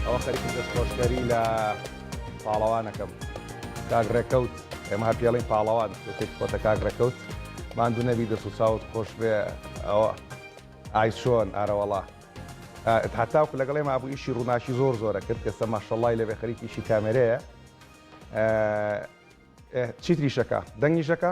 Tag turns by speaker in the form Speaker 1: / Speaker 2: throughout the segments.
Speaker 1: ئەوە خەریکی دەستخۆشکەری لە پاڵەوانەکەم کاک ڕێکەوت ئێمە هەر پێڵین پاڵەوان شتێک خۆتە کاک ڕێکەوت ماندوو نەبی دەست و چاوت خۆش بێ ئەوە ئای چۆن ئارەوەڵا هەتاوکو لەگەڵێ مابوو ئیشی ڕووناکی زۆر زۆرە کرد کەسە ماشەڵی لەبێ خەریکی ئیشی کامێرەیە چیتریشەکە دەنگیشەکە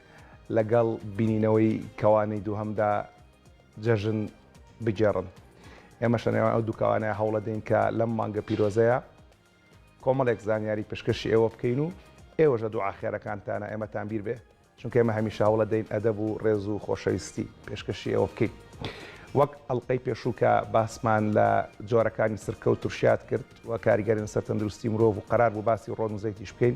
Speaker 1: لەگەڵ بینینەوەی کەوانەی دووهەمدا جەژن بگێڕن. ئێمەش لە نێوان ئەو دوو کەوانەیە هەوڵەدەین کە لەم مانگە پیرۆزەیە کۆمەڵێک زانیاری پشکەشی ئێوە بکەین و ئێوەش لە دوعا خێرەکانتانا ئێمەتان بیر بێ چونکە ئێمە هەمیشە هەوڵەدەین ئەدەب و ڕێز و خۆشەویستی پێشکەشی ئێوە بکەین. وەک ئەڵقەی پێشوو کە باسمان لە جۆرەکانی سرکە و ترشیات کرد و کاریگەری لەسەر تەندروستی مرۆڤ و قەرار بوو باسی ڕۆن و زەیتیش بکەین،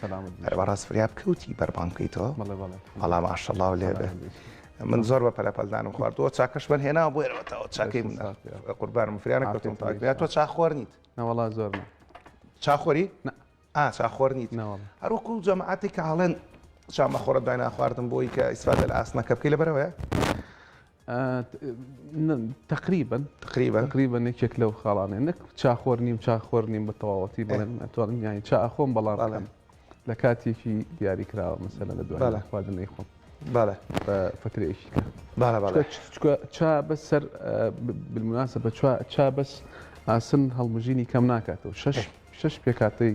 Speaker 1: سەلامت بی. بەڕاست فریاب کەوتی بەربانگ بکەیتەوە؟ بەڵێ بەڵێ. وەڵا ماشەڵڵا لێ بێ. من زۆر بە پەلەپەلدانم خواردووە چاکەشمان هێناوە بۆ ئێرەوەتەوە چاکەی من قوربانم فریانە کەوتم تاکریا تۆ چاخۆر نیت نەوەڵا زۆر چاخۆری چاخۆر نیت هەروەکو جەماعاتی کە هەڵێن شامە خۆرە دای ناخواردن بۆی کە ئیسفادە لە ئاسنەکە بکەی لە بەرەوەیە تەقریبەن
Speaker 2: تەقریبەن تەقریبەن یەکێک لەو خاڵانێ نەک چا خۆر نیم چا خۆر نیم بە تەواوەتی بڵێم ئەتوانم یانی چا ئەخۆم بەڵام لە کاتێکی دیاری کراوە مەسەلە لە دوای خواردنەی خۆم بەڵێ فترێکی چا بەس سەر بمناسە بە چا بەس ئاسن هەڵمژینی کەم ناکاتەوە شش شش پێکاتەی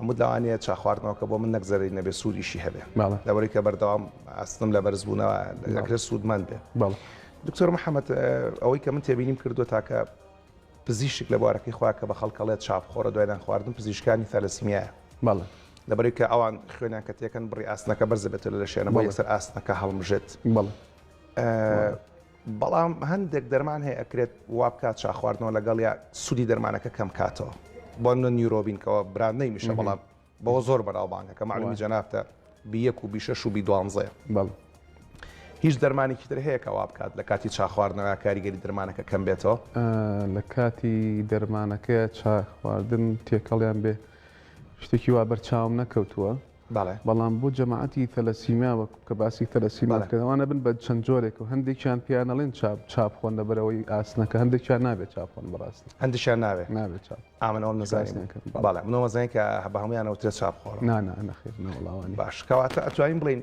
Speaker 1: عمود لەوانەیە چا خواردنەوەکە بۆ من نەک زەرەری نەبێ سوودیشی هەبێ بەڵێ. لەوەی کە بەردەوام ئاستم لە بەرزبوونەوە ئەکرێت سوودمەند بێ بەڵێ. دکتۆر محەممەد ئەوەی کە من تێبینیم کردووە تاکە پزیشک لە بوارەکەی خوا کە بە خەڵکەڵێت چا بخۆرە دوای نان خواردن پزیشکانی تالەسیمیایە بەڵێ. لەبەرەوەی کە ئەوان خوێنیان کە تێکەن بڕی ئاستنەکە بەرز دەبێتەوە لە لەشیانە بۆ بەڵێ. یەکسەر ئاستنەکە هەڵمژێت بەڵێ. بەڵام هەندێک دەرمان هەیە ئەکرێت وابکات چا خواردنەوە لەگەڵیا سودی دەرمانەکە کەم کاتەوە بۆ نە نیورۆبین کەەوە براد نەیمیشە بەڵام بەوە زۆر بەناوبانگە کە معلومی جەنافتە بیەک و بیشەش و بی دوانزەیە بەڵ هیچ دەرمانێکی تر هەیە کەوا بکات لە کاتی چاخواردنەوە کاریگەری دەرمانەکە کەم بێتەوە لە کاتی
Speaker 2: دەرمانەکەی چاخواردن تێکەڵیان بێ شتێکی وا بەرچاوم نەکەوتووە بەڵێ. بەڵام بۆ جەماعەتی ثەلەسیمیا وەک کە باسی ثەلەسیمیا بەڵێ. دەکەن ئەوان ئەبن بە چەند جۆرێک و هەندێکیان پێیان ئەڵێن چاپ چاپ خۆن لە بەرەوەی ئاسنەکە هەندێکیان نابێ چاپ خۆن بەڕاستی. هەندێکیان نابێ. نابێ
Speaker 1: چاپ. ئا من ئەوەم
Speaker 2: نەزانی بوو.
Speaker 1: نەکردم بەڵێ. بەڵێ من ئەوەم زانی کە بە هەموویان ئەوترێ چاپ خۆڕ. نا نا نەخێر نەوەڵا
Speaker 2: وا نیە. باش کەواتە ئەتوانین
Speaker 1: بڵێین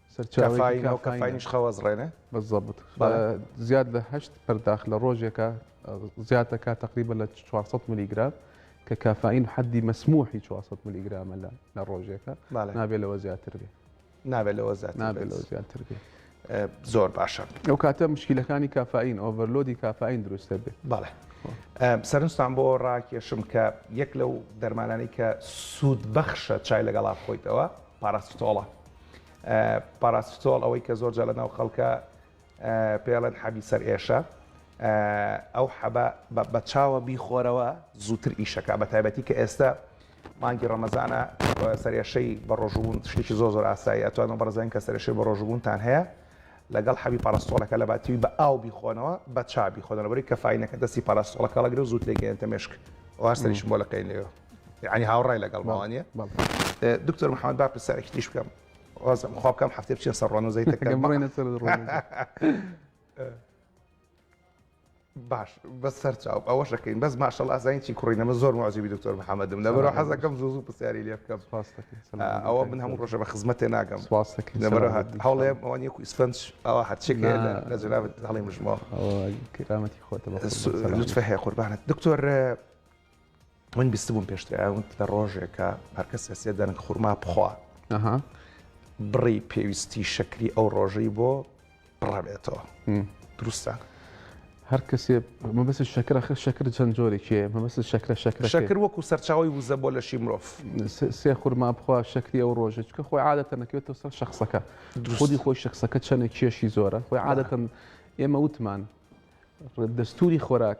Speaker 2: سەرچاوەیەکی کافاینیش
Speaker 1: خەوەزڕێنە بەزەبت
Speaker 2: زیاد لە هەشت پەرداخ لە ڕۆژێکە زیاتەکە تقریبە لە 400 ملیگرام کە کافاین حەدی مەسموحی 400 ملیگرامە لە لە ڕۆژێکە نابێت لەوە زیاتر بێ نابێت لەوە زیات
Speaker 1: نابێت لەوە زیاتر بێ
Speaker 2: زۆر
Speaker 1: باشە ئەو کاتە مشکلەکانی
Speaker 2: کافاین ئۆڤەرلۆدی کافاین دروستە بێت بەڵێ
Speaker 1: سەرنجستان بۆ ڕاکێشم کە یەک لەو دەرمانانی کە سوود بەخشە چای لەگەڵا خۆیتەوە پاراستۆڵە پاراستۆڵ ئەوەی کە زۆر جا لە ناو خەڵکە پێڵێن حەبی سەر ئێشە ئەو حەبە بە چاوە بیخۆرەوە زووتر ئیشەکە بە تایبەتی کە ئێستا مانگی ڕەمەزانە سەرێشەی بە ڕۆژبوون شتێکی زۆ زۆر ئاسایی ئەتوانم بەڕزان کە سەرێشەی بە ڕۆژبوونتان هەیە لەگەڵ حەبی پاراستۆڵەکە لە باتی بە ئاو بیخۆنەوە بە چابی خۆدەەوەی کە فینەکە دەستی پاراستۆڵەکەڵەگرێ زووت لێگەێنتە مشک واسەریش بۆ لەقەی لێەوە ینی هاوڕای لەگەڵ ماوانە دکتۆر محمد با پرسیارێکی تیش بکەم وازم خوا بکەم هەفتێ بچێن سەر ڕۆن و زەی باش بە سەر چاو ئەوە شەکەین بەس ماشەڵ ئازین چی کوڕینەمە زۆر مازیبی دکتۆر محەممەدم لەبەر حەزەکەم زوو زوو پرسیاری لێ بکەم ئەوە من هەموو ڕۆژە بە خزمەتێ ناگەم هەڵێ ئەوانی کو ئیسپەنج ئەوە هەرچێک لە جنابەت هەڵی مژمەوە کرامەتی
Speaker 2: خۆتە لوتفە هەیە
Speaker 1: قوربانت دکتۆر من بیستبووم پێشتر ئەوت لە ڕۆژێکە هەرکە سێسێ دەنگ خورما بخوا بڕی پێویستی شەکری ئەو ڕۆژەی بۆ بڕابێتەوە دروستە
Speaker 2: هەر کەسێ مەبەس شەکر خ شەکر چەند جۆرێکێ مەبەس شەکرە شەکر شەکر وەکو سەرچاوی
Speaker 1: وزە بۆ لەشی مرۆڤ سێ خورما
Speaker 2: بخوا شەکری ئەو ڕۆژە چکە خۆی عادەتە نەکەوێتەوە سەر شخصەکە خودی خۆی شخصەکە چەندێک کێشی زۆرە خۆی عادەتەن ئێمە وتمان دەستوری خۆراک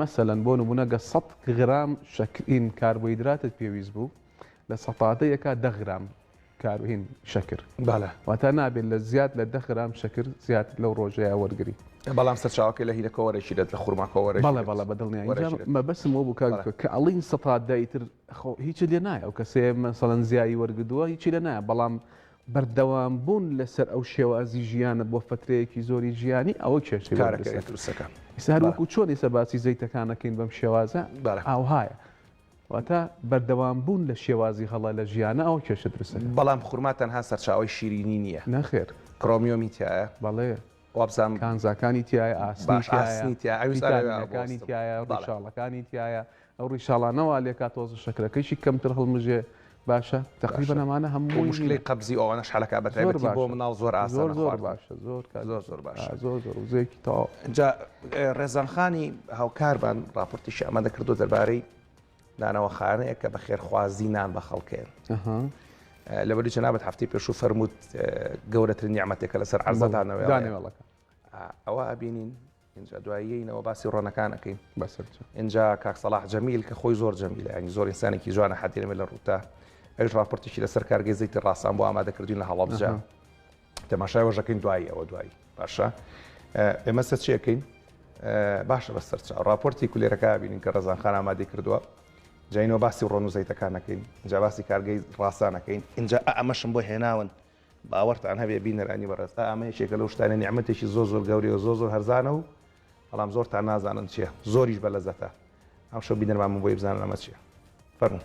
Speaker 2: مەسەلەن بۆ نموونە گە سەد غرام شەکرین کاربۆیدراتت پێویست بوو لە سەتاتە یەکا دە غرام کاروهین شەکر بالە واتا نابێت لە زیاد لە دە غرام شەکر زیاد لەو ڕۆژەیە وەرگری بەڵام سەرچاوەکە
Speaker 1: لە هینە کۆوەرەی دێت لە خورما کۆوەرە بەڵێ بەڵە بە دڵنیا وەرەی
Speaker 2: دێت. مە بەسم بۆ بوو کاک کە ئەڵین سەتات دایتر خۆ هیچ لێ نایە و کەسێ مەسەڵەن زیایی وەرگدووە هیچی لە نایە بەڵام بەردەوام بوون لەسەر ئەو شێوازی ژیانە بۆ فەترەیەکی زۆری ژیانی ئەوە کێشەی وەرە کارەکەی دەسەر. دروست دەکات
Speaker 1: ئیستا هەر بەڵێ. وەکو چۆن
Speaker 2: ئێستا باسی زەیتەکان ئەکەین بەم شێوازە بەڵێ. ئاوهایە. واتە بەردەوام بوون لە شێوازی هەڵە لە ژیانە ئەوە کێشە دروست دەکات. بەڵام خورما تەنها
Speaker 1: سەرچاوەی شیرینی نییە. نەخێر. کرۆمیۆمی
Speaker 2: تیایە.
Speaker 1: بەڵێ.
Speaker 2: وابزانم.
Speaker 1: کانزاکانی تیایە،
Speaker 2: ئاسنی باش تیایە، ئاسنی تیایە ئەویش ئەوێ ئەوە بۆستم. ڤیتامینەکانی تیایە، بەڵێ. ڕیشاڵەکانی تیایە، ئەو ڕیشاڵانە وا لێکا تۆزە شەکرەکەیشی کەمتر هەڵمژێ باشە تەقریبەن ئەمانە هەمووی هینە. بۆ مشکلەی قەبزی ئەوانەش
Speaker 1: حەلەکە بە تایبەتی بۆ مناڵ زۆر ئاسانە خواردنی. زۆر باشە زۆر
Speaker 2: کاک زۆر زۆر باشە.
Speaker 1: زۆر زۆر زۆر وزەیەکی تەواو.
Speaker 2: جا
Speaker 1: ڕێزان خانی هاوکارمان ڕاپۆرتیشی ئامادە کردووە دەربارەی نانەواخانەیەک کە بە خێرخوازی نان بە خەڵکێن. لەبەری جەنابەت هەفتەی پێشوو فەرمووت گەورەترین نیعمەتێکە لەسەر عەرزدانەوەیڵەکە. ئەوە ئەبینین ئینجا دوای یەینەوە باسی ڕۆنەکان ئەکەین بەسەر چ ئینجا کاک سەڵاح جەمیل کە خۆی زۆر جەمیلە ینی زۆر ئینسانێکی جوانە حەدیرەمە لە ڕووتە ئەوش ڕاپرتیشی لەسەر کارگەی زەیتی ڕاستان بۆ ئامادەکردین لە هەڵەبجە تەماشای وەژەکەین دوایی ئەوە دوایی باشە ئێمە سەر چیەکەین باشە بە سەرچ ڕاپۆرتی کولێرەکە بینین کە ڕزان خان ئامادەی کردووە جینەوە باسی ڕۆن و زەیتەکانەکەین جا باسی کارگەی ڕاستانەکەین اینجا ئەمەشم بۆ هێناون باوەڕتان هەبێ بینەرانی بەڕێز ئا ئەمە یەکێکە لەو شتانەی نیعمەتێکی زۆر زۆر گەورەیە و زۆر زۆر هەرزانە و بەڵام زۆرتان نازانن چیە زۆریش بە لەزەتە ئەمشەو بینەرمان من بۆی بزانن ئەمە چیە فەرموو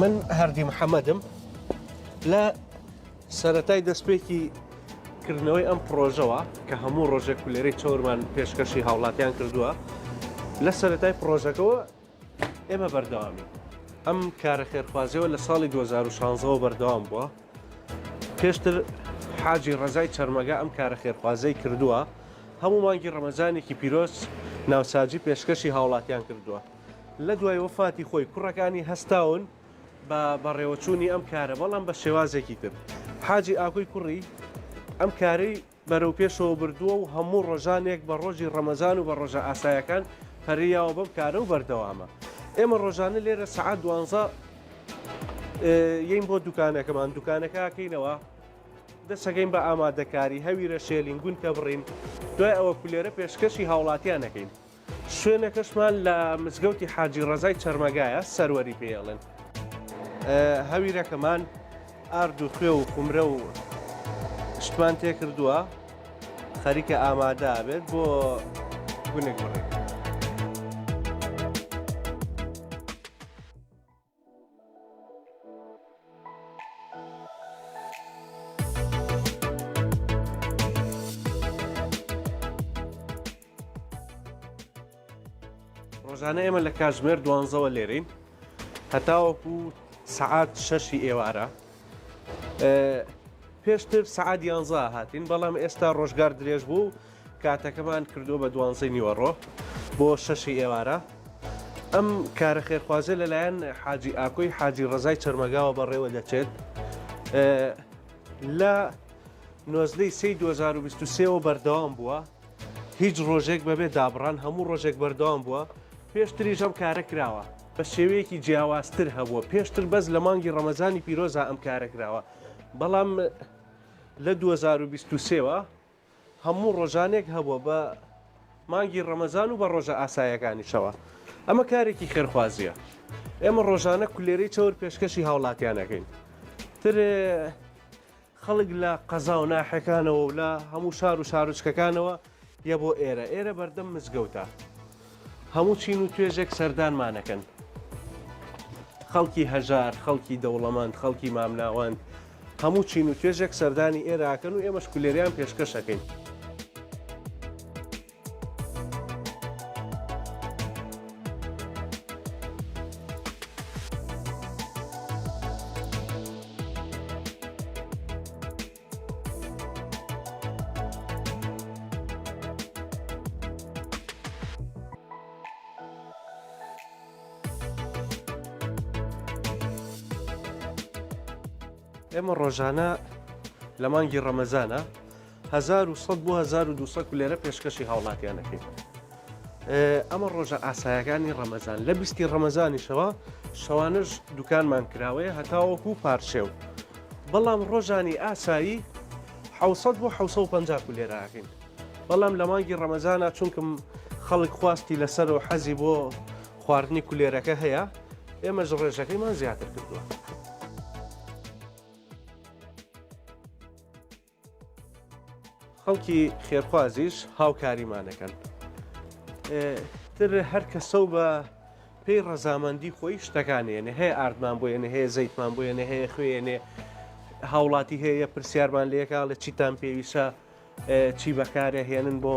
Speaker 3: من هەردی محەممەدم لە سەتای دەستپێکی کردنەوەی ئەم پرۆژەوە کە هەموو ڕۆژێک کولێری چۆرمان پێشکەشی هاوڵاتیان کردووە لە سەتای پرۆژەکەەوە ئێمە بەردەوامین ئەم کارە خێرخوازیەوە لە ساڵی 2016ەوە بەردەوام بووە پێشتر حاجی ڕزای چەرمەگە ئەم کارە خێرخوازەی کردووە هەموو مانگی ڕەمەزانێکی پیرۆز ناوساجی پێشکەشی هاوڵاتیان کردووە لە دوای وەفاتی خۆی کوڕەکانی هەستاون بە بەڕێوەچوونی ئەم کارە بەڵام بە شێوازێکی تر حاجی ئاکۆی کوڕی ئەم کارەی بەرەوپێشەوە بردووە و هەموو ڕۆژانێک بە ڕۆژی ڕەمەزان و بە ڕۆژە ئاسایەکان پەرەی یاوە بەم کارە و بەردەوامە ئێمە ڕۆژانە لێرە سەعات دوانزە یین بۆ دوکانەکەمان دوکانەکە کەینەوە دەسەکەین بە ئامادەکاری هەویرە شێلین گونکە بڕین دوای ئەوە کولێرە پێشکەشی هاوڵاتیانەکەین شوێنەکەشمان لە مزگەوتی حاجی ڕەزای چەرمەگایە سەروەری پێڵێن هەویرەکەمان ئارد و خوێ و قمرە و شتمان تێ کردووە خەریکە ئامادە بێت بۆ گونێک بڕێت ڕۆژانە ئێمە لە کاژمێر دوانزەوە لێرین هەتاوەکو سعات شەشی ئێوارە پێشتر سعات یانزا هاتین بەڵام ئێستا ڕۆژگار درێژ بوو کاتەکەمان کردووە بە دوانزەی نیوەڕۆ بۆ شەشی ئێوارە ئەم کارە خێرخوازێ لەلایەن حاجی ئاکۆی حاجی ڕزای چەرمەگاوە بەڕێوە دەچێت لە نۆزدەی سی 2023ەوە بەردەوام بووە هیچ ڕۆژێک بەبێ دابڕان هەموو ڕۆژێک بەردەوام بووە پێشتری ژەم کارە کراوە بە شێوەیەکی جیاوازتر هەبووە پێشتر بەس لە مانگی ڕەمەزانی پیرۆزا ئەم کارە کراوە بەڵام لە 2023ەوە هەموو ڕۆژانێک هەبووە بە مانگی ڕەمەزان و بە ڕۆژە ئاسایەکانیشەوە ئەمە کارێکی خێرخوازیە ئێمە ڕۆژانە کولێرەی چەور پێشکەشی هاوڵاتیانەکەین تر خەڵک لە قەزا و ناحەکانەوە و لە هەموو شار و شارچکەکانەوە یە بۆ ئێرە ئێرە بەردەم مزگەوتە هەموو چین و توێژێک سەردانمانەکەن. خەڵکی هەژار، خەڵکی دەوڵەمەند، خەڵکی مامناوەند، هەموو چین و توێژێک سەردانی ئێرە ئەکەن و ئێمەش کولێریان پێشکەش ئەکەین. ئێمە ڕۆژانە لە مانگی ڕەمەزانە 1970 لێرە پێشکەشی هاوڵاتیانەکەی ئەمە ڕۆژە ئاسایەکانی ڕەمەزان لە بیستی ڕەمەزانیشەوە شەوانش دوکانمان کراوەیە هەتاوەکو پارشێو بەڵام ڕۆژانی ئاسایی حوسەت بۆ 1950 لێراکەین بەڵام لە مانگی ڕەمەزانە چونکم خەڵک خواستی لەسەر و حەزی بۆ خواردنی کولێرەکە هەیە ئێمەش ڕێژەکەیمان زیاتر کردووە. خەڵکی خێرخوازیش هاوکاریمان دەکەن. تر هەر کەسە و بە پێی ڕەزامەندی خۆی شتەکانێنێ هەیە ئاردمان بۆ یێنێ هەیە زەیتمان بۆ یێنێ هەیە خوێنێ هاوڵاتی هەیە پرسیارمان لێکا لە چیتان پێویستە چی بەکارە هێنن بۆ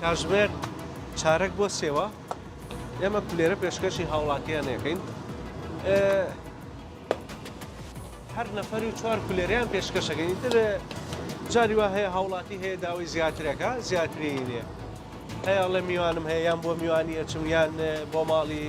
Speaker 3: کاژمێر چارەک بۆ سێوە ئێمە پلێرە پێشکەشی هاوڵاتیان نەکەین هەر نەفەری و چوار پلێریان پێشکەشەکەین تر جاری وا هەیە هاوڵاتی هەیە داوای زیاترەکە زیاتری لێ هەیە لە میوانم هەیە یان بۆ میوانیە چمیان بۆ ماڵی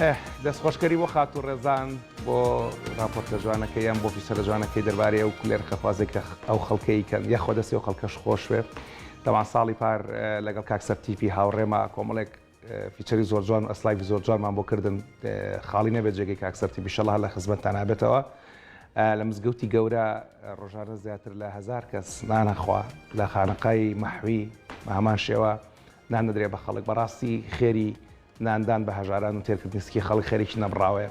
Speaker 1: ئەه دەست خۆشکەری بۆ خاتو ڕێزان بۆ راپۆرتە جوانەکە یان بۆ فیسەرە جوانەکەی دەربارەی ئەو کولێر خەفازێک کە ئەو خەڵکەی کەن یەخوا دەستی و خەڵکەش خۆشوێ تەوان ساڵی پار لەگەڵ کاکسەر تیپی هاوڕێما کۆمەڵێک فیچەری زۆر جوان و ئەسلایڤی زۆر جوانمان بۆ کردن خاڵی نەبێت جێگەی کاک سەرتیب ئیشەڵا هەر لە خزمەتتان نابێتەوە لە مزگەوتی گەورە ڕۆژانە زیاتر لە هزار کەس نانەخوا لە خانەقای مەحوی بە هەمان شێوە نان نەدرێ بە خەڵک بەڕاستی خێری ناندان بە هەژاران و تێرکردنی سکی خەڵک خێرێکی نەبڕاوەیە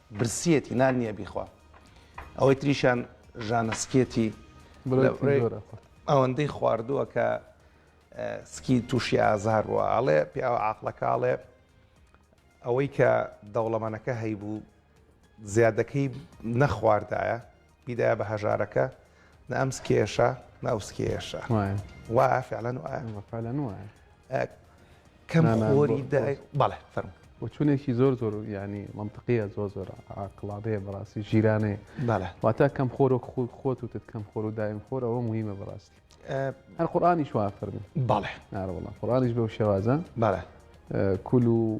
Speaker 1: برسیەتی نان نیە بیخوا ئەوەی تریشان ژانەسکێتی ئەوەندەی خواردووە کە سکی تووشی ئازار بووە ئاڵێ پیاوە عقلەکەڵێ ئەوەی کە دەوڵەمەنەکە هەیبوو زیادەکەی نەخواردایە بیدایە بە هەژارەکە نە ئەم سکێشە نە ئەو سکێشە وایە وایە فعلەن وایە فعلەن وایە کەم خۆری دای بەڵێ فەرم وچونێکی زۆر
Speaker 2: زۆر ینی منطقیە زۆر زۆر عقلادەیە بەڕاستی ژیرانەیە بەڵێ واتە کەم خۆر و خود خۆت و تت کەم خۆر و دایم خۆر ئەوە مهمە بەڕاستی هەر قورآانیش وا فەرمی بەڵێ ناڕوەڵە
Speaker 1: قڕانیش
Speaker 2: بەو شێوازە بەڵێ
Speaker 1: کول و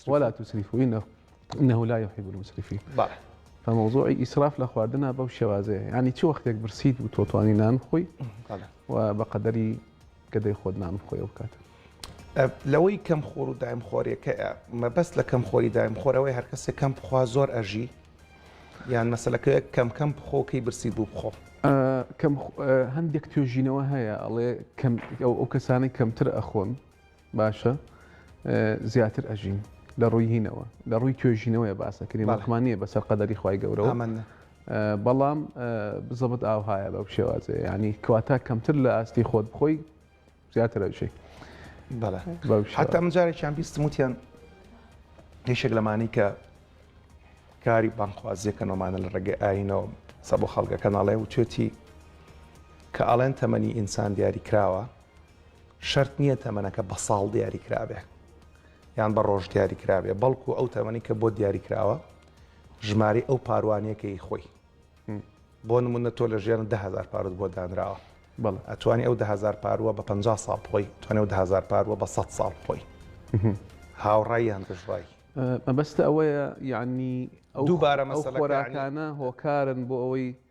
Speaker 2: ولا توسریفوی نە انه لا يحب المسرفين بەڵێ
Speaker 1: فموضوعی
Speaker 2: ئیسراف لە خواردنا بەو شێوازەیە ینی چ وەختێک برسیت و تۆتوانی نان خۆی بەڵێ و بە قەدەری گەدەی خۆت نان خۆی ئەو کات ئە، لەوەی
Speaker 1: کەم خۆر و دایم خۆرێکە مەبەست لە کەم خۆری دایم خۆرەوەی هەر کەسێک کەم بخوا زۆر ئەژی یان مەسلەکە کەم کەم بخۆ کەی برسی بوو بخۆ ئە، کەم خ- ئە،
Speaker 2: هەندێک توێژینەوە هەیە ئەڵێ کەم ئەو ئەو کەسانەی کەمتر ئەخۆن باشە زیاتر ئەژین لە ڕووی هینەوە لە ڕووی توێژینەوەی باسەکردی بەڵمان نیە بەسەر قەدەری خی گەورەوە بەڵام بزەبت ئاوهایە بەو شێوازێ ینی کەواتە کەمتر لە ئاستی خۆت بخۆی زیاتر ئەژی
Speaker 1: حتا مجارێکیان بیستم وتیان هیشێک لەمانی کە کاری بانخوازیەکەنەوەمانە لە ڕێگەی ئاینەوە سە بۆ خەڵگەکە ناڵێ و توێتی کە ئاڵێن تەمەنی ئینسان دیاری کراوە شەرت نییە تەمەنەکە بە ساڵ دیاری کرابێ یان بە ڕۆژ دیاری کرابێ بەڵکو ئەو تەمەنی کە بۆ دیاری کراوە ژماری ئەو پاروانەکەی خۆی بۆ نمونە تۆ لە ژێن دههزار پارت بۆ دانراوە بەڵ ئەتوانی ئەو دههزار پاروە بە 50 ساڵ خۆی توانێ و دههزار پاروە بە 100 ساڵ خۆی هاوڕای هەند ڕای مەبەستە
Speaker 2: ئەوەیە یعنی ئەو دووبارە مەسەلەکانە هۆکارن بۆ ئەوەی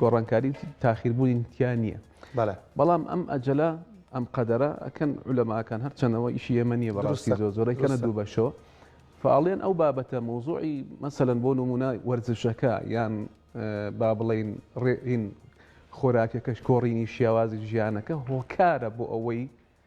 Speaker 2: گۆڕانکاری و تاخیربوونی تیا نییە بەڵام ئەم ئەجەلە ئەم قەدەرە ئەکەن علەماکان هەرچەنەوە ئیشی ئێمە نییە بەڕاستی زۆر زۆرەی کەنە دوو بەشەوە فعاڵێن ئەو بابەتە مۆزوعی مەسەلەن بۆ نمونە وەرزشەکە یان با بڵین ڕێئین خۆراکەکەش کۆڕینی شێوازی ژیانەکە هۆکارە بۆ ئەوەی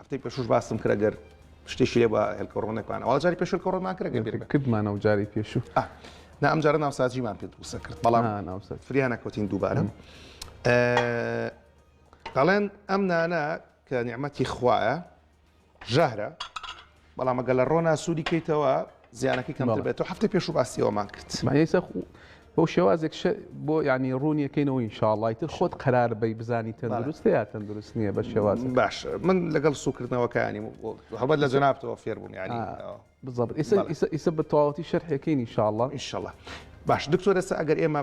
Speaker 1: هەفتەی پێشووش باستم کرد گەر شتێکی لێ بە هێلکەڕۆنێکمان ئەوە جاری پێشل کەڕۆمان کرد کردمانە و جاری پێشوو
Speaker 2: نا ئەم جارە
Speaker 1: ناوسازیمان پێ دووسە کرد بەڵام فریانە کۆتین دووبارە دەڵێن ئەم نانە کە نیعممەتی خوایە ژەهرە بەڵام ئەگەر لە ڕۆنا سوودی کەیتەوە زیانەکەی کەمتر بێت و هەفتە پێش و باسیەوەمان کرد مایسە بۆ
Speaker 2: شێوازێک بۆ ینی ڕوونیەکەینەوە ئینشاڵی تر خۆت قرار بی بزانی تەندروست یا تەندروست نییە بە شێواز باش من لەگەڵ
Speaker 1: سوکردنەوەکانی هەبەت لە جەنابەوە فێر بووم ینی بزەبر
Speaker 2: ئیسە بە تەواوەتی شەرحەکەی ئینشاڵە ئینشاڵە
Speaker 1: باش دکتۆرەسە ئەگەر ئێمە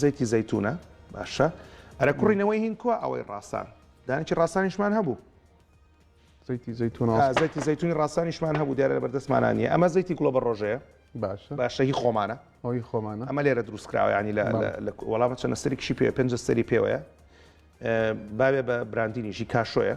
Speaker 1: زەیتی زەیتونە باشە ئەرە کوڕی نەوەی هین کووە ئەوەی ڕاستان دانێکی ڕاستانیشمان هەبوو
Speaker 2: زەیتی زەیتون زەیتی
Speaker 1: زەیتونی ڕاستانیشمان هەبوو دیارە لە بەردەستمانانیە ئەمە زەیتی گوڵە بە ڕۆژەیە باشە باشەهی خۆمانە ئەوی خۆمانە ئەمە لێرە دروستکراوە ینی لە وەڵامە چەندە سەرێکشی پێ پێنج سەری پێوەیە باێ بە براندینیشی کاشۆیە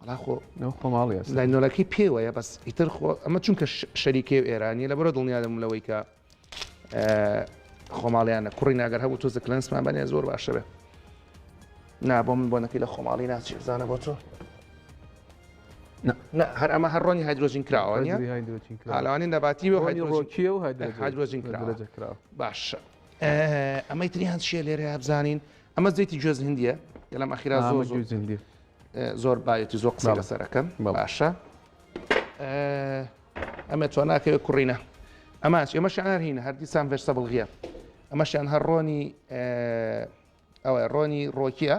Speaker 1: وەڵا خۆ ئەو خۆ
Speaker 2: ماڵی ئەسەدە. لاینۆلەکەی پێوەیە
Speaker 1: بەس ئیتر خۆ ئەمە چونکە شەریکەیەو ئێرانیە لەبەرئەوە دڵنیا دەبووم لەوەی کە خۆماڵیانە کوڕینە ئەگەر هەبوو تۆزێک کلێنسمان بەنێ زۆر باشەبێ نا بۆ من بۆنەکەی لە خۆماڵی ناچێ بزانە بۆ تۆ هەر ئەمە هەر ڕۆنی هایدرۆژین کراوە ئالوانی نەباتی و هایدرۆژین کراوە باشە ئەمەی تریان چیە لێرە بزانین ئەمە زەیتی جۆز هندیە گەلم ئەخیرا زۆر زۆر هندی زۆر باەتی زۆر قسە لەسەرەکەم باشە ئەمە تۆ ناکەوێت کوڕینە ئەماش ئێمە شعار هینە هەردیسان ڤێرسە بڵغیە ئەمەشیان هەر ڕۆنی ئەوە ڕۆنی ڕۆکیە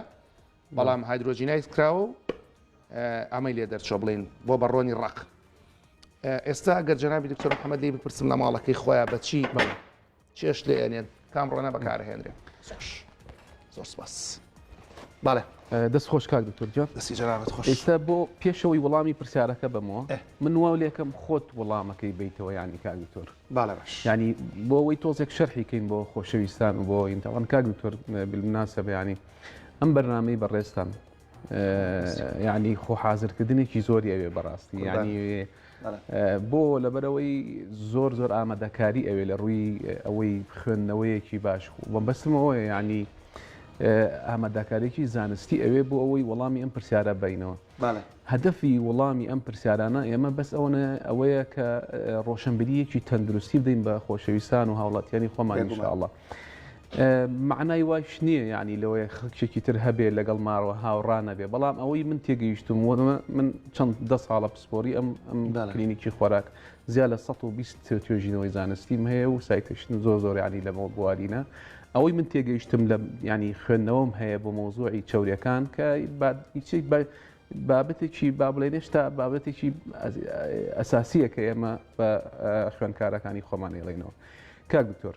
Speaker 1: بەڵام هایدرۆجینایز کراوە و ئەمەی لێ دەرچۆ بڵین بۆ بە ڕۆنی ڕق ئێستا گەر جەنابی دکتۆر محەممەدی بپرسم لە ماڵەکەی خۆیان بەچی بڵێ چێشت لێ ئەنێن کام ڕۆنە بەکارهێنرێن زۆر سپاس باە دەست خۆش
Speaker 2: کاک دکتۆرجان دەستی جەرابەت خۆش ئێستا
Speaker 1: بۆ پێشەوەی
Speaker 2: وەڵامی پرسیارەکە بەمەوە من واو لێکم خۆت وەڵامەکەی بیتەوە ینی کاک دکتۆر باە باش ینی
Speaker 1: بۆ ئەوەی
Speaker 2: تۆزێک شەرحی کەین بۆ خۆشەویستان و بۆ ئینتەوان کاک دکتۆر بلمناسە بەیانی ئەم بەرنمەی بەڕێستان یانی خۆ حازرکردنێکی زۆری ئەوێ بەڕاستی ینی بۆ لەبەرەوەی زۆر زۆر ئامادەکاری ئەوێ لە ڕووی ئەوەی خوێندنەوەیەکی باش بۆ بەسمەوە ینی ئامادەکارێکی زانستی ئەوێ بۆ ئەوەی وەڵامی ئەم پرسیارە بینەوە هەدەفی وەڵامی ئەم پرسیارانە ئێمە بەس ئەوەنە ئەوەیە کە ڕۆشنبیریەکی تەندروستی بدەین بە خۆشەویستان و هاوڵاتیانی خۆمانیشاءڵە. مەعنای وایش نییە یانی لەوەیە خەڵکێکی تر هەبێ لەگەڵ ماوە هاوڕا نەبێ بەڵام ئەوەی من تێگەیشتوم وەمە من چەند دە ساڵە پسپۆری ئەم ئەم کلینیکی خۆراک زیا لە 120 توێژینەوەی زانستیم هەیە و سایتشتن زۆر زۆر ینی لەمەوە بوارینە ئەوەی من تێگەیشتم لە ینی خوێندنەوەم هەیە بۆ مۆزوعی چاورەکان کە هیچێک بە بابەتێکی با بڵێن هێشتا بابەتێکی ئەساسیە کە ئێمە بە خوێندکارەکانی خۆمان ێڵێنەوە کاک دکتۆر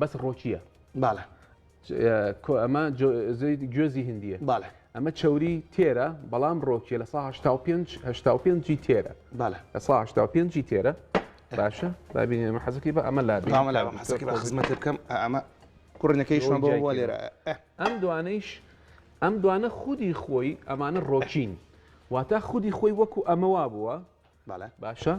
Speaker 2: بەس ڕۆچیە باە ئەمە گوێزی هندیە باە ئەمە چوری تێرە بەڵام ڕۆکیە لە 5 جی تێرە باە لە 5 جی تێرە باشە بابینێ مە حەزەکەی بە ئەمە لا حەزەکە بە خزمەت بکەم
Speaker 1: ئەمە کوڕنەکەی شوان بۆ بۆ لێرە ئەم دوانەیش
Speaker 2: ئەم دوانە خودی خۆی ئەمانە ڕۆکین واتە خودی خۆی وەکو ئەمەوا بووە بەڵێ. باشە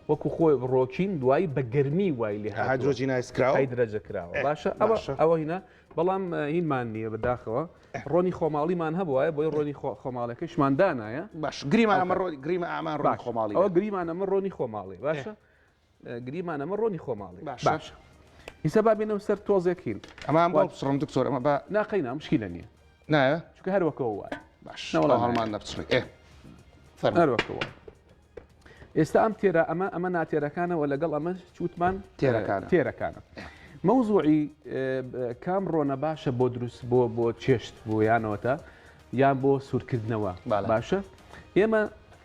Speaker 2: وەکو خۆی ڕۆکین دوایی بە گەرمی وای لێ هاتووە. هایدرۆجینایز کراوە. هایدرەجە
Speaker 1: کراوە. ئێ، باشە
Speaker 2: ئەوە باشە. ئەوە هینا بەڵام اه، هینمان نییە بەداخەوە ڕۆنی خۆماڵیمان هەبوایە بۆیە ڕۆنی خۆ خۆماڵەکەشمان دانایە. باش گریمان ئەمە ئەوکات.
Speaker 1: ڕۆ گریمە ئەمان ڕۆنی باش خۆماڵی ئەوە بێت. گریمان ئەمە ڕۆنی
Speaker 2: خۆماڵی باشە گریمان ئەمە ڕۆنی خۆماڵی باش ئیسە با بینەوە سەر تۆزێکین ئەمان بۆ بسڕم
Speaker 1: دکتۆر ئەمە بە ناقەینا مشکی لە نییە
Speaker 2: نایە چکە
Speaker 1: هەروەکەەوە وایە
Speaker 2: باش نەوەڵ هەڵمان
Speaker 1: نەبچڕی ئێ
Speaker 2: هەروەکەەوە ئێستا ئەم تێرە ئەمە ئەمە ناتێرەکانەوە لەگەڵ ئەمە چوتمان تێرەکان تێرەکانە مەوزوعی کام ڕۆنە باشە بۆ دروست بۆ بۆ چێشت بۆ یانەوەتە یان بۆ سوورکردنەوە باشە ئێمە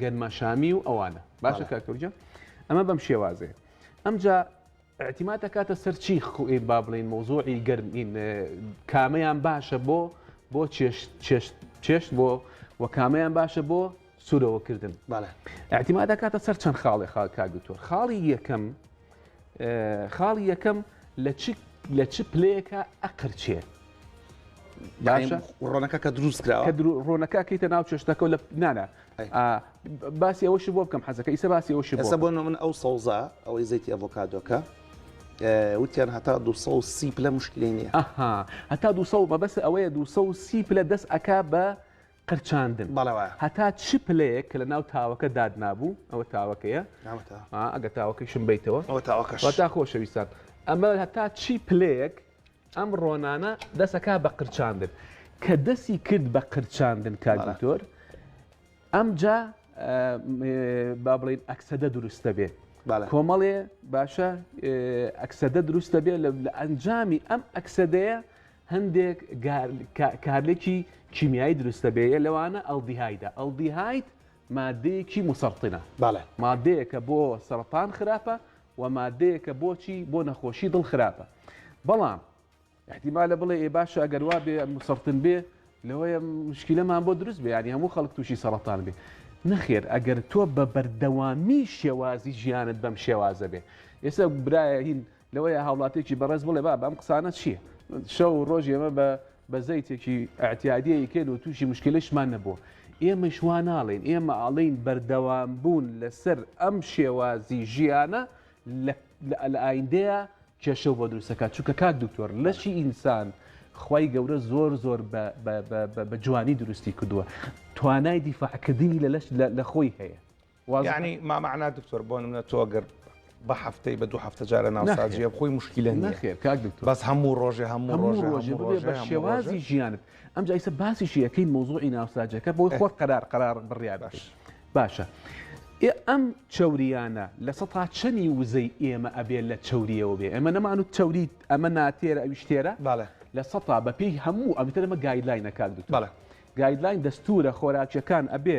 Speaker 2: گەنمەشامی و ئەوانە باشە کاکەوجە ئەمە بەم شێوازێ ئەمجا اعتیمات دەکاتە سەر چی خوین با بڵین مۆزۆعی گەرمین کامیان باشە بۆ بۆ چێشت بۆ و کامیان باشە بۆ سوورەوەکردن اعتیما دەکاتە سەر چەند خاڵێ خاکا دکتۆر خاڵی یەکەم خاڵی یەکەم لە چ لە چ پلەیەکە ئەقرچێ باشە ڕۆنەکە کە
Speaker 1: دروست کراوە کە ڕۆنەکە کەیتە ناو
Speaker 2: چێشتەکە لە نانا باسی ئەوەشی بۆ بکەم حەزەکە ئیسە باسی ئەوشی ئەسە بۆ من ئەو سەوزە
Speaker 1: ئەوەی زەیتی ئەڤۆکادۆکە وتیان هەتا 230 پلە مشکلی نیە هەتا
Speaker 2: 200 بەبەس ئەوەیە 230 پلە دەست ئەک بە قرچاندن بەڵێ وایە هەتا چ پلەیەک کە لە ناو تاوەکە دادنابوو ئەوە تاوەکەیە ناوەتە ئا ئەگە تاوەکەیشم بیتەوە ئەوە تاوەکەش وەتا خۆشەویستان ئەمە هەتا چی پلەیەک ئەم ڕۆنانە دەسەکە بە قرچاندن کە دەسی کرد بە قرچاندن بەڵێ. کاگدکتۆر ئەمجا با بڵین ئەکسەدە دروستە بێ بەڵێ کۆمەڵێ باشە ئەکسەدە دروستە بێ لە لە ئەنجامی ئەم ئەکسەدەیە هەندێک کارلێکی کیمیایی دروستە بێ لەوانە ئەلدیهایدە ئەلدیهاید مادەیەکی مسەرتنە مادەیەکە بۆ سەرەتان خراپە و مادەیەکە بۆچی بۆ نەخۆشی دڵ خراپە بەڵام احتیمالە بڵێ ئێ باشە ئەگەر وا بێ مسەرتن بێ لەوەیە مشکلەمان بۆ دروست بێ ینی هەموو خەڵک تووشی سەرەتان بێ نەخێر ئەگەر تۆ بە بەردەوامی شێوازی ژیانت بەم شێوازە بێ ئێستا برایە هین لەوەیە هاوڵاتیەکی بەڕێز بڵێ بابە ئەم قسانە چیە؟ شەو و ڕۆژ ئێمە بە بە زەیتێکی ئەعتیادیە ئیکەین و تووشی مشکلەشمان نەبووە. ئێمەش وا ناڵێین، ئێمە ئەڵێین بەردەوامبوون لەسەر ئەم شێوازی ژیانە لە لە ئایندەیە کێشەو بۆ دروست دەکات. چونکە کاک دکتۆر لەشی ئینسان خوای گەورە زۆر زۆر بە بە بە بە جوانی دروستی کردووە. توانای دیفاعکردنی لە لەش لە لە خۆی هەیە. یعنی ما
Speaker 1: معناه دکتۆر بۆ نمونە تۆ گەر بە هەفتەی بە دوو هەفتە جارە ناوسازیە خۆی مشکلە نەخێر کاک دکتۆر بەس
Speaker 2: هەموو ڕۆژێ هەموو
Speaker 1: ڕۆژ ڕۆژێ بە
Speaker 2: شێوازی ژیانت ئەم جایسە باسیشی یەکەی مۆزۆی ناوساجەکە بۆی خۆت قەرار قەرار بڕیار باش باشە ئێ ئەم چوریانە لە سە تا چەنی وزەی ئێمە ئەبێت لە چوریەوە بێ ئەمە نەمان و چوریت ئەمە ناتێرە ئەویشتێرە باە لە سە تا بەپی هەموو ئەمتەرمە گایدلاینەکان دوت باە گایدلاین دەستورە خۆراکیەکان ئەبێ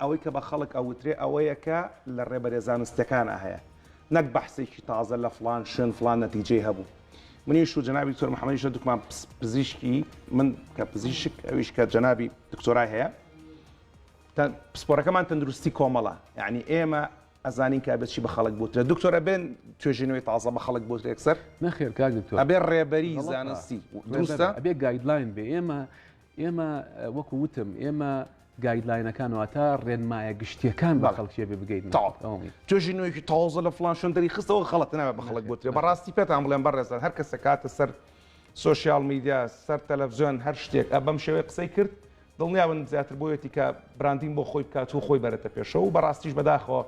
Speaker 1: ئەوەی کە بە خەڵک ئەوترێ ئەوەیە کە لە ڕێبەرە زانستیەکانا هەیە نەک بەحسێکی تازە لە فڵان شوێن فڵان نەتیجەی هەبوو. منیش و جەنابی دکتۆر محەمەدیش هەردووکمان پزیشکی من کە پزیشک ئەویش کە جەنابی دکتۆرای هەیە پسپۆرەکەمان تەندروستی کۆمەڵە یعنی ئێمە ئەزانین کە بچی بە خەڵک بوترێت دکتۆرە بێن توێژینەوەی تازە بە خەڵک بۆت رێکسەر نەخێر کاک دکتۆر
Speaker 2: ئەبێ ڕێبەری
Speaker 1: زانستی دروستە ئەبێ گایدلاین
Speaker 2: بێ ئێمە ئێمە وەکو وتم ئێمە گایدلاینەکان واتە ڕێنمایە گشتیەکان بە خەڵکیێ بگەین توێژی نوێکی
Speaker 1: تازە لە فلان شوێن دەری خستەوە خەڵەت ناوێ بە خەڵک گوترێ بەڕاستی پێتان بڵێن بەڕێزان هەر کەسە کاتە سەر سوسیال میدیا سەر تەلەڤزیۆن هەر شتێک ئە بەم شێوەی قسەی کرد دڵنیاون زیاتر بۆیەتی کە براندین بۆ خۆی بکات و خۆی بەرەتە پێشەوە و بەڕاستیش بەداخەوە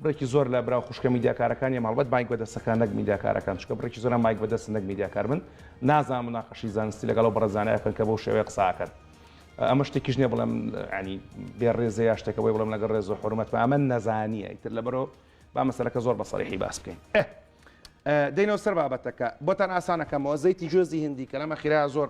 Speaker 1: بڕێکی زۆر لە برا و خوشکە میدیاکارەکانیم هەڵبەت مایک بەدەستەکان نەک میدیاکارەکان چونکە بڕێکی زۆرە مایک بەدەستن نەک میدیاکار بن نازانم مناقەشی زانستی لەگەڵ ئەو بەڕە زانایە بکەن کە بەو شێوەیە قسە ئەکەن ئەمە شتێکیش نییە بڵێم ینی بێ ڕێزە یا شتێکە بۆی بڵێم لەگەڵ ڕێز و حرمەت بە ئەمە نەزانییە ئیتر لەبەرەوە با مەسەلەکە زۆر بە سەریحی باس بکەین دەینەوە سەر بابەتەکە بۆتان ئاسانەکەمەوە زەیتی جۆزی هندی کە لەمە خیرا زۆر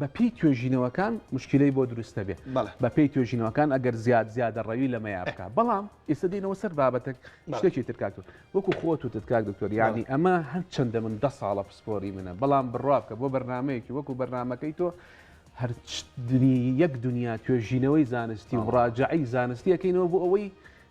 Speaker 2: بە پێی توێژینەوەکان مشکیلەی بۆ دروست نەبێ بە پێی توێژینەوەکان ئەگەر زیاد زیادە ڕەوی لە مەیا بکە بەڵام ئێستا دێنەوە سەر بابەتێک شتێکی ترکاتون وەکو خۆت و تتکاک دکتۆر یانی ئەمە هەر چەندە من دە ساڵە پسپۆری منە بەڵام بڕوا بکە بۆ بەرنمەیەکی وەکو بەرنمەکەی تۆ هەر یەک دنیا توێژینەوەی زانستی و ڕاجعی زانستیەکەینەوە بۆ ئەوەی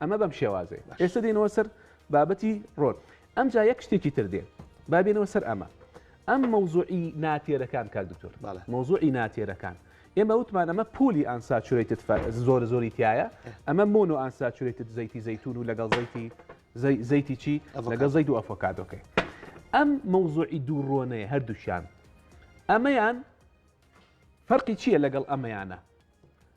Speaker 2: ئەمە بەم شێوازەیە. ئێستا دێنەوە سەر بابەتی ڕۆل. ئەمجا یەک شتێکی تر دێ. با بێنەوە سەر ئەمە. ئەم مەوزوعی ناتێرەکان کاک دکتۆر. بەڵێ. مەوزوعی ناتێرەکان. ئێمە وتمان ئەمە پولی ئانساچورەیتد فە زۆرە زۆری تایە. ئەمە مۆنۆ ئانساچورەیتد زەیتی زەیتون و لەگەڵ زەیتی زەی زەیتی چی؟ ئەڤۆکادۆ. لەگەڵ زەیت و ئەفۆکادۆکەی. ئەم مەوزوعی دوو ڕۆنەیە هەردووکیان. ئەمەیان فەرقی چییە لەگەڵ ئەمەیانە؟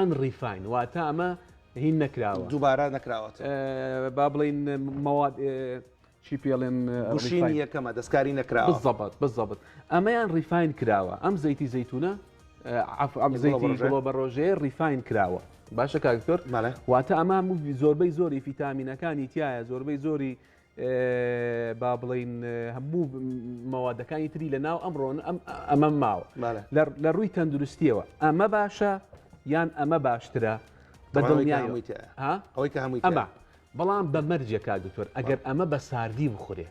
Speaker 2: Unrefined، واتە ئەمە هین نەکراوە. دووبارە
Speaker 1: نەکراوەتەوە. با بڵێین
Speaker 2: مەواد چی پێ ڵێن. گوشینی یەکەمە
Speaker 1: دەستکاری نەکراوە. بزەبت بزەبت
Speaker 2: ئەمەیان ڕیفاین کراوە ئەم زەیتی زەیتونە عفو زەیتی گوڵۆبەڕۆژەیە ڕیفاین کراوە باشە کاک دکتۆر واتە ئەمە زۆربەی زۆری فیتامینەکانی تایە زۆربەی زۆری با بڵین هەموو مەوادەکانی تری لە ناو ئەمڕۆن ئەمە ماوە لە ڕووی تەندروستیەوە ئەمە باشە یان ئەمە باشترە بە دڵنیایەوەیتە ئەوەی کە
Speaker 1: هەمووی ئەمە بەڵام
Speaker 2: بە مەرجێکا دکتۆر ئەگەر ئەمە بە ساردی بخورێ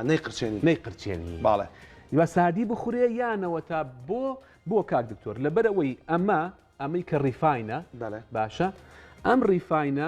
Speaker 2: نەی قرچێنی نەی قرچێنی باڵێ یا
Speaker 1: ساردی
Speaker 2: بخورێ یانەوە تا بۆ بۆ کاک دکتۆر لەبەرەوەی ئەمە ئەمەی کە ڕیفاینە باشە ئەم ڕیفاینە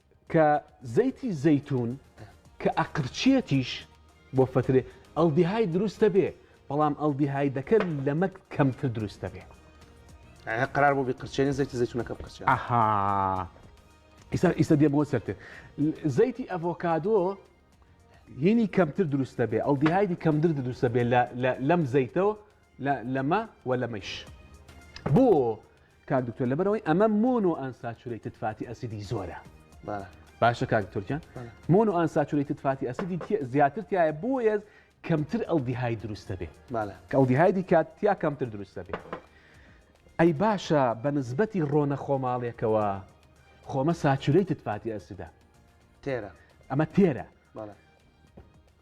Speaker 4: کە زەیتی زەیتون کە ئەقرچێتیش بۆ فەترێ ئەڵدیهای دروستە بێ بەڵام ئەڵدیهای دەکە لەمەک کەمتر دروستە بێ قرار
Speaker 1: بۆ بقرچێنی زەیتی زەیتونەکە بقرچێن ئەها
Speaker 4: ئیسا ئیسە دێ بۆ سەرتر زەیتی ئەڤۆکادۆ هینی کەمتر دروستە بێ ئەڵدیهایدی کەمتر دروستە بێ لەم زەیتەوە لەمە و لەمەش بۆ کاک دکتۆر لەبەرەوەی ئەمە مۆنۆ ئەنساچورەیتد فاتی ئەسیدی زۆرە باشە کاک تورکیان مۆنۆ ئەنساچورەیتد فاتی ئەسیدی زیاتر تایە بۆیە کەمتر ئەو دیهای دروستە بێ کەڵدیهایدی کات تیا کەمتر دروستە بێ ئەی باشە بە نسبەتی ڕۆنە خۆماڵێکەوە خۆمە ساچورەیتد فاتی ئەسیدا تێرە ئەمە تێرە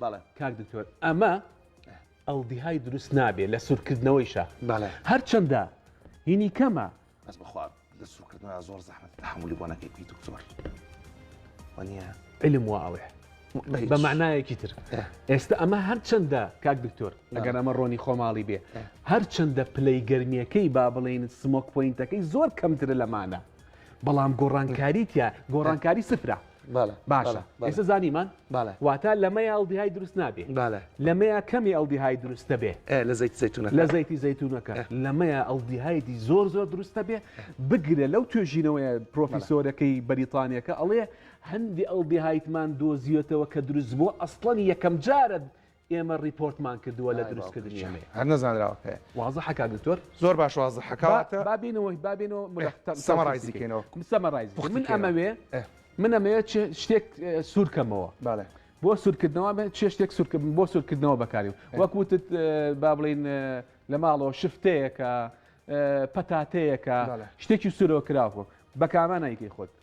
Speaker 4: بەڵێ کاک دکتۆر ئەمە ئەڵدیهای دروست نابێت لە سوورکردنەوەیشە بەڵێ هەرچەندە هینی کەمە بەس بخوا
Speaker 1: لە سوورکردنەوە زۆر زەحمت تحملی بۆ نەکەی پێی دکتۆر وەنیە علم وا
Speaker 4: ئەڵێ بە معنایەکی تر ئێستا ئەمە هەرچەندە کاک دکتۆر ئەگەر ئەمە ڕۆنی خۆماڵی بێ هەرچەندە پلەی گرمیەکەی با بڵێن سمۆک پوینتەکەی زۆر کەمترە لەمانە بەڵام گۆڕانکاری تیا گۆڕانکاری سفرە باشە ئێستا زانیمان واتە لەمەیە ئەڵدیهای دروست نابێ لەمەیە کەمی ئەڵدیهای دروست دەبێ لە زەیت زەتونە لە
Speaker 1: زەیتی زەتونەکە
Speaker 4: لەمەیە ئەڵدیهایدی زۆر زۆر دروستە بێ بگرە لەو توێژینەوەی پرۆفیسۆرەکەی بەریتانیەکە ئەڵێ هەندی ئەڵدیهایتمان دۆزیێتەوە کە دروست بووە ئەستڵەن یەکەم جارە ئێمە ڕیپۆرتمان کردووە لە دروستکردنی ئەمەی. هەر نەزانراوە پێ.
Speaker 1: وازحە کاک دکتۆر؟
Speaker 4: زۆر باش وازحە
Speaker 1: کەواتە. با بینەوە با بینەوە
Speaker 4: ملخ. سەمەڕایزی کەینەوە.
Speaker 1: سەمەڕایز بکەین. من
Speaker 4: ئەمەوێ من ئەمەوێ چ شتێک سوور کەمەوە. بەڵێ. بۆ سوورکردنەوە بێ چێ شتێک سوور کردم بۆ سوورکردنەوە بەکاریم. وەک وتت با بڵێین لە ماڵەوە شفتەیەکە، پەتاتەیەکە، شتێکی سوورەوە کراوە. بە کامە نایکەی خۆت؟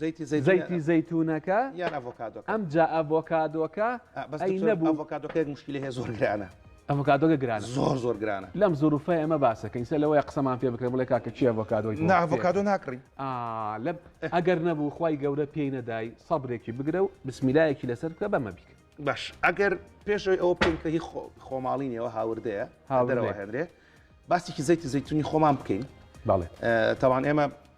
Speaker 4: زەیتی زەیتونەکە ئەم جا ئەڤۆکادۆکە ئەڤۆکادۆکە مشکلی هەیە زۆر
Speaker 1: گرانە ئەڤۆکادۆگە گران
Speaker 4: زۆر زۆر گرانە لەم
Speaker 1: زۆرفە ئەمە
Speaker 4: باسەکەین سە لەوەی قسەمان پێ بکرێ بڵێ کاکە چی ئەڤۆکادۆی ناڤۆکادۆ ناکڕی
Speaker 1: لەم
Speaker 4: ئەگەر نەبوو خی گەورە پێی نەدای سەبرێکی بگرە و بسمیلایەکی لەسەر بکە بەمە بیکە باش ئەگەر
Speaker 1: پێشەوەی ئەوە بکەینکە هی خۆماڵینەوە هاوردەیە هاوردەوە هێنرێ باسێکی زەیتی زەیتونی خۆمان بکەین بەڵێ
Speaker 4: تاوان ئێمە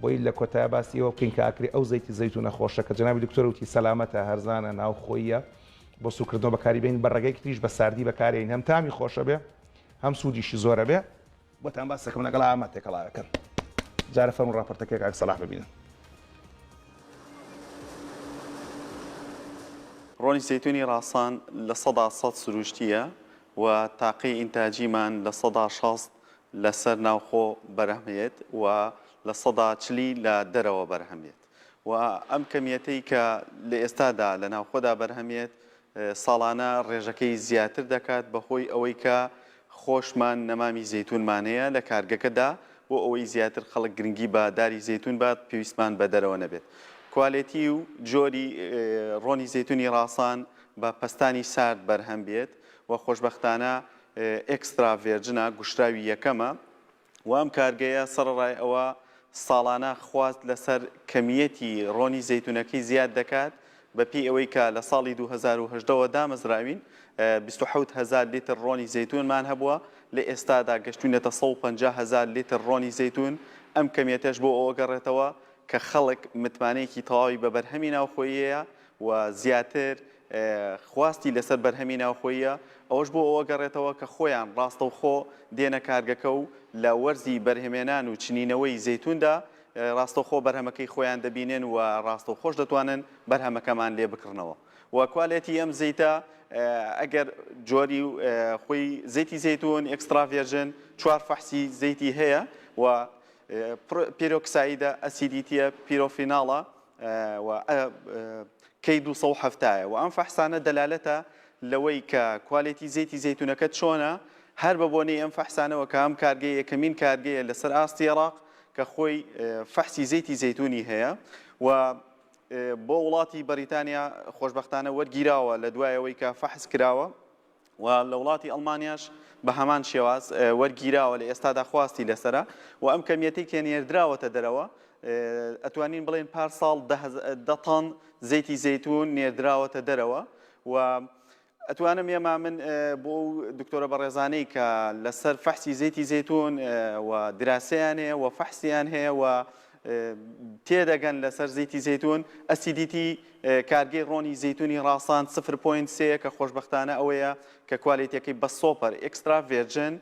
Speaker 1: بۆی لە کۆتایە باسی ئەوە بکەین کە ئاکری ئەو زەیتی زەیتونە خۆشە کە جەنابی دکتۆر وتی سەلامەتە، هەرزانە، ناوخۆییە بۆ سوکردنەوە بەکاری بێنین بە ڕێگەیەکی تریش بە ساردی بەکارێین هەم تامی خۆشە بێ هەم سودیشی زۆرە بێ. بۆتان باس دەکەم لەگەڵ ئامە تێکەڵاوێکەن جارە فەرموو ڕاپۆرتەکەی کاک سەڵاح ببینن.
Speaker 5: ڕۆنی زەیتونی ڕاسان لە سەدا سەد سروشتییە و تاقی ئینتاجیمان لە سەدا شەست لەسەر ناوخۆ بەرهەمهێت و لە سەدا چلی لە دەرەوە بەرهەمێت و ئەم کەمیەتەی کە لە ئێستادا لە ناوخۆدا بەرهەمێت ساڵانە ڕێژەکەی زیاتر دەکات بەهۆی ئەوەی کە خۆشمان نەمامی زەیتونمانەیە لە کارگەکەدا بۆ ئەوەی زیاتر خەڵک گرنگی بە داری زەیتون بات پێویستمان بە دەرەوە نەبێت کوالێتی و جۆری ڕۆنی زەیتونی ڕاسان بە پەستانی سارد بەرهەم بێت و خۆشببختانە ئێکسترا ڤێرجنە گوشراوی یەکەمە و ئەم کارگەیە سەڕەڕای ئەوە ساڵانە خواست لەسەر کەمییەتی ڕۆنی زەیتونەکەی زیاد دەکات بەپێی ئەوەی کە لە ساڵی دوو هەزار و هەژدە وە دامەزراوین بیست و حەوت هەزار لیتر ڕۆنی زەیتونمان هەبووە لە ئێستادا گەشتوینەتە سەد و پەنجا هەزار لیتر ڕۆنی زەیتون ئەم کەمییەتەش بۆ ئەوە گەڕێتەوە کە خەڵک متمانەیەکی تەواوی بە بەرهەمی ناوخۆییە و زیاتر خواستی لەسەر بەرهەمی ناوخۆییە، ئەوەش بۆ ئەوە گەڕێتەوە کە خۆیان ڕاستەوخۆ دێنە کارگەکە و لە وەرزی بەرهەمێنان و چنینەوەی زەیتوندا ڕاستەوخۆ بەرهەمەکەی خۆیان دەبینن و ڕاستەوخۆش دەتوانن بەرهەمەکەمان لێ بکڕنەوە و کوالێتی ئەم زەیتە ئەگەر جۆری خۆی زەیتی زەیتون ئێکسترا ڤێرژن چوار فەحسی زەیتی هەیە و پیرۆکسایدە ئەسیدیتیە پیرۆفیناڵە و ئە کەی دوو سەد و حەفتا یە وە ئەم فەحسانە دەلالەتە لەوەی کە کوالێتی زەیتی زەیتونەکەت چۆنە هەر بە بۆنەی ئەم فەحسانەوە کە ئەم کارگەیە یەکەمین کارگەیە لە سەر ئاستی ئێراق کە خۆی فەحسی زەیتی زەیتونی هەیە و بۆ وڵاتی بەریتانیا خۆشببختانە وەرگیراوە لە دوایەوەی کە فەحس کراوە و لە وڵاتی ئەڵمانیاش بە هەمان شێواز وەرگیراوە لە ئێستادا خواستی لەسەرە و ئەم کەمیەتەی کە نێردراوەتە دەرەوە ئەتوانین بڵێن پار ساڵ دە تەن زەیتی زەیتون نێردراوەتە دەرەوە و ئەتوانم ئێمە من بۆ ئەو دکتۆرە بەڕێزانەی کە لەسەر فەحسی زەیتی زەتون و دراسیان هەیە و فەحسیان هەیە و تێدەگەن لەسەر زەیتی زەیتون، ئەسیدیتی، کارگەی ڕۆنی زەیتونی ڕاسان سفر پۆینت سێ یە کە خۆشبەختانە ئەوەیە کە کوالێتیەکەی بە سۆپەر ئێکسترا ڤێرجن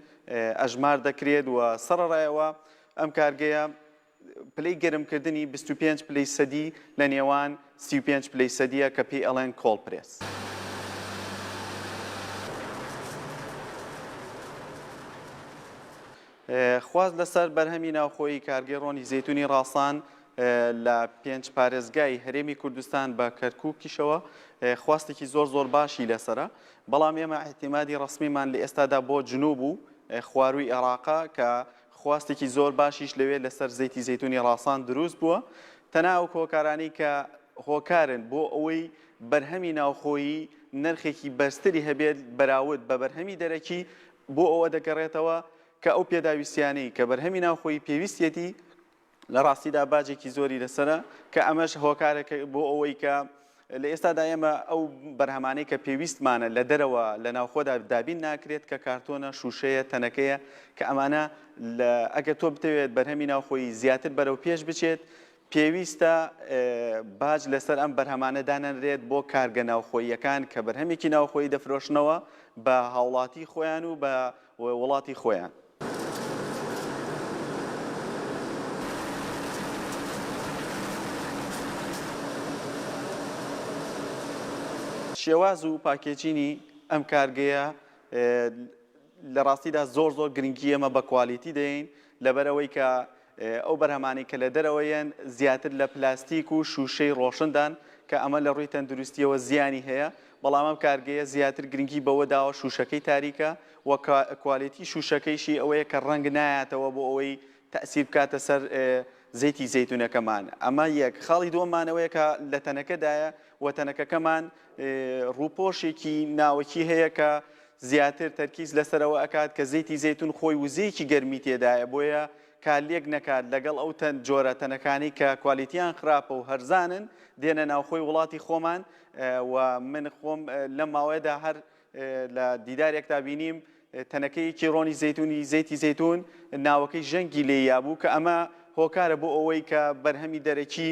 Speaker 5: ئەژمار دەکرێت و سەڕەڕای ئەوە ئەم کارگەیە پلەی گەرمکردنی بیست و پێنج پلەی سەدی لە نێوان سی و پێنج پلەی سەدیە کە پێی ئەڵێن کۆڵ پرێس. خواست لەسەر بەرهەمی ناوخۆیی کارگەی ڕۆنی زەیتونی ڕاسان لە پێنج پارێزگای هەرێمی کوردستان بە کەرکووکیشەوە خواستێکی زۆر زۆر باشی لەسرە بەڵام ئێمە احتیمادی ڕسمیمان لە ئێستادا بۆ جنوب و خواروی عێراقا کە خواستێکی زۆر باشیش لەوێ لەسەر زەیتی زەیتونی ڕاسان دروست بووە تەنا ئەو کۆکارانی کە هۆکارن بۆ ئەوەی بەرهەمی ناوخۆیی نرخێکی بەرزتری هەبێت بەراود بە بەرهەمی دەرەکی بۆ ئەوە دەگەڕێتەوە کە ئەو پێداویستییانەی کە بەرهەمی ناوخۆیی پێویستیەتی لە ڕاستیدا باجێکی زۆری لەسەرە کە ئەمەش هۆکارێکە بۆ ئەوەی کە لە ئێستادا ئێمە ئەو بەرهەمانەی کە پێویستمانە لە دەرەوە لە ناوخۆدا دابین ناکرێت کە کارتۆنە، شووشەیە، تەنەکەیە کە ئەمانە ئەگەر تۆ بتەوێت بەرهەمی ناوخۆیی زیاتر بەرەو پێش بچێت، پێویستە باج لەسەر ئەم بەرهەمانە دانەنرێت بۆ کارگە ناوخۆییەکان کە بەرهەمێکی ناوخۆیی دەفرۆشنەوە بە هاوڵاتی خۆیان و بە وڵاتی خۆیان. شێواز و پاکێجینی ئەم کارگەیە لە ڕاستیدا زۆر زۆر گرنگی ئێمە بە کوالیتی دەین لەبەرەوەی کە ئەو بەرهەمانەی کە لە دەرەوە یەن زیاتر لە پلاستیک و شووشەی ڕۆشندان کە ئەمە لە ڕووی تەندروستییەوە زیانی هەیە، بەڵام ئەم کارگەیە زیاتر گرنگی بەوە داوە شووشەکەی تاریکە و کوالێتی شووشەکەیشی ئەوەیە کە ڕەنگ نایاتەوە بۆ ئەوەی تەئسیر بکاتە سەر زەیتی زەیتونەکەمان. ئەمە یەک. خاڵی دووەممان ئەوەیە کە لە تەنەکەدایە و تەنەکەکەمان ڕووپۆشێکی ناوەکی هەیە کە زیاتر تەرکیز لەسەر ئەوە ئەکات کە زەیتی زەیتون خۆی وزەیەکی گەرمی تێدایە بۆیە کارلێک نەکات لەگەڵ ئەو تەن جۆرە تەنەکانەی کە کوالیتیان خراپە و هەرزانن دێنە ناوخۆی وڵاتی خۆمان و من خۆم لەم ماوەیەدا هەر لە دیدارێکدا بینیم تەنەکەیەکی ڕۆنی زەیتونی زەیتی زەیتون ناوەکەی ژەنگی لێ یابوو کە ئەمە هۆکارە بۆ ئەوەی کە بەرهەمی دەرەکی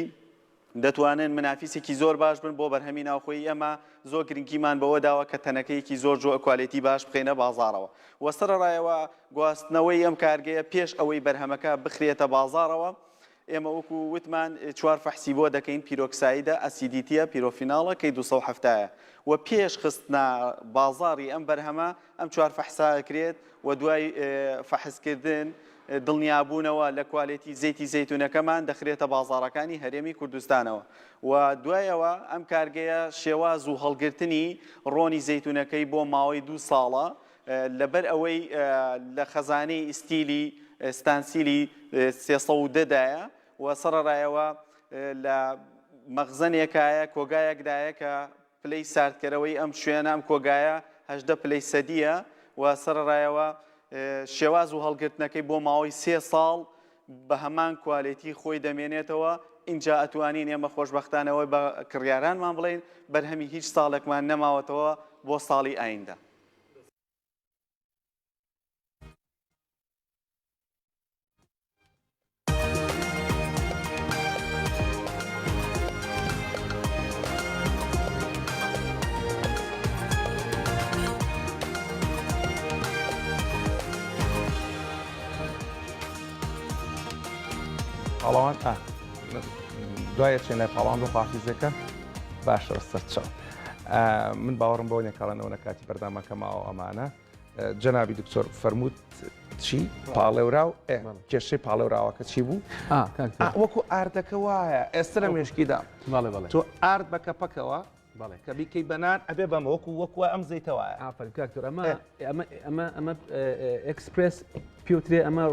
Speaker 5: دەتوانن منافیسێکی زۆر باش بن بۆ بەرهەمی ناوخۆیی ئێمە، زۆر گرنگیمان بەوە داوە کە تەنەکەیەکی زۆر جۆ کوالێتی باش بخەینە بازاڕەوە و سەرەڕایەوە گواستنەوەی ئەم کارگەیە پێش ئەوەی بەرهەمەکە بخرێتە بازاڕەوە ئێمە وەکو وتمان چوار فەحسی بۆ دەکەین پیرۆکسایدە ئەسیدیتیە پیرۆفیناڵە کەی دوو سەد و حەفتا یە و پێش خستنە بازاڕی ئەم بەرهەمە ئەم چوار فەحسە ئەکرێت و دوای فەحسکردن دڵنیابوونەوە لە کوالێتی زەیتی زەیتونەکەمان دەخرێتە بازاڕەکانی هەرێمی کوردستانەوە و دوای ئەوە ئەم کارگەیە شێواز و هەڵگرتنی ڕۆنی زەیتونەکەی بۆ ماوەی دوو ساڵە لەبەر ئەوەی لە خەزانەی ئیستیلی ستانسیلی سێ سەد و دە دایە و سەڕەرایەوە لە مەغزەنێکایە کۆگایەکدایە کە پلەی ساردکەرەوەی ئەم شوێنە، ئەم کۆگایە هەژدە پلەی سەدییە و سەرەڕایەوە شێواز و هەڵگرتنەکەی بۆ ماوەی سێ ساڵ بە هەمان کوالێتی خۆی دەمێنێتەوە، ئینجا ئەتوانین ئێمە خۆشبەختانە وەی بە کڕیارانمان بڵێین بەرهەمی هیچ ساڵێکمان نەماوەتەوە بۆ ساڵی ئایندە.
Speaker 1: پاڵەوان دوای چێن لای پاڵان بۆ خواحافیزەکە باشە سەرچاو من باوەڕم بۆ نێکاڵەنەوە نە کاتی بەردامەکەمەوە ئەمانە جەنابی دکتۆر فەرمووت چی پاڵێوراو کێشەی پاڵێوراوەکە چی بوو وەکو ئاردەکە وایە ئێستا لە مێشکیدا تۆ ئارد بە کەپەکەوە کە بیکەی بەنان ئەبێ بەمە وەکو وەکو ئەم زیتەوە ئافرکتۆر ئەمە
Speaker 4: ئەمە ئەمە ئەمە ئەکسپرس پیوترێ ئەمە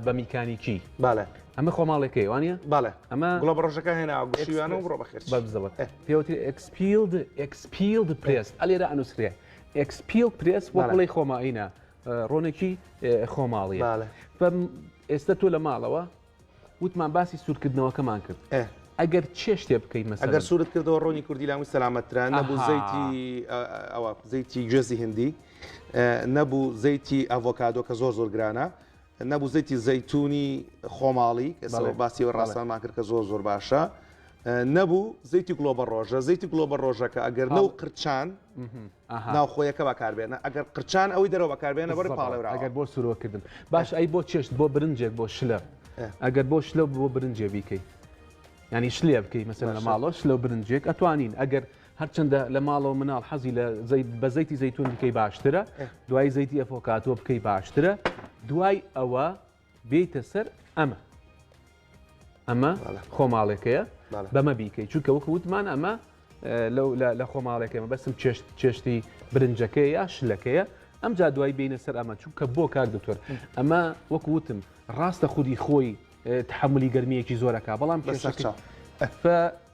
Speaker 4: بە میکانیکی باە ئەمە خۆماڵێکەکەی وانە باە ئەمە گوڵە بڕۆژەکان هێنا
Speaker 1: گوشیوانە بڕۆ بەخێر بەبزەوە پێوتری
Speaker 4: ئەکسپیلد ئەکسپیلد پرێس ئەلێرە ئەنووسرێ ئەکسپیل پرێس وەک بڵێ خۆماینە ڕۆنێکی خۆماڵی ئێستا تۆ لە ماڵەوە وتمان باسی سوورکردنەوەکەمان کرد ئەگەر چێ شتێ بکەین مەسە ئەگەر سوورت کردەوە ڕۆنی
Speaker 1: کوردی لامی سەلامەتران نەبوو زەیتی ئەوە زەیتی گوێزی هندی نەبوو زەیتی ئەڤۆکادۆ کە زۆر زۆر گرانە نەبوو زەیتی زەیتونی خۆماڵی کەسەوە باسی و ڕاستانمان کرد کە زۆر زۆر باشە نەبوو زەیتی گلۆ بە ڕۆژە زەیتی گلۆ بە ڕۆژەکە ئەگەر نەو قرچان ناوخۆیەکە بەکاربێنە ئەگەر قرچان ئەوەی دەرەوە بەکاربێنە بەر پاڵێورا ئەگەر بۆ سورۆکردن
Speaker 4: باش ئەی بۆ چێشت بۆ برنجێک بۆ شلە ئەگەر بۆ شلە بۆ برنجێ بیکەیت ینی شلێ بکەیت مەسەر لە ماڵۆش لەو برنجێک ئەتوانین ئەگەر هەرچەندە لە ماڵەوە مناڵ حەزی لە بە زەیتی زەیتون بکەی باشترە دوای زەیتی ئەفۆکاتۆ بکەی باشترە دوای ئەوە بێتە سەر ئەمە ئەمە خۆماڵێکەیە بەمە بیکەی چونکە وەکو وتمان ئەمە لە خۆماڵێکەمە بەسم چێشت چێشتی برنجەکەی یا شلەکەیە ئەم جا دوای بینە سەر ئەمە چونکە بۆ کاک دکتۆر ئەمە وەکو وتم ڕاستە خودی خۆی تحملی گەرمیەکی زۆرەکە بەڵام بەسەرچ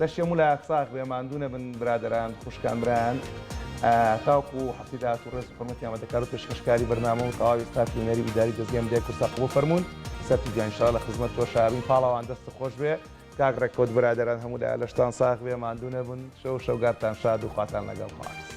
Speaker 1: لەشی هەموو لایەک ساغ بێ ماندوو نەبن برادەران خوشکان برایان تاوکو هەفتی داهاتوو ڕێز و حورمەتی ئامادەکار و پێشکەشکاری بەرنامە و تەواوی ستافی هونەری و ئیداری دەزگەی میدیای کوردسات قبوڵ فەرموون سەرتی جوان ئینشاڵا لە خزمەت تۆ شارین پاڵەوان دەستت خۆش بێ کاک ڕێکەوت برادەران هەموو لایە لەشتان ساغ بێ ماندوو نەبن شەو شەوگارتان شاد و خواتان لەگەڵ خواست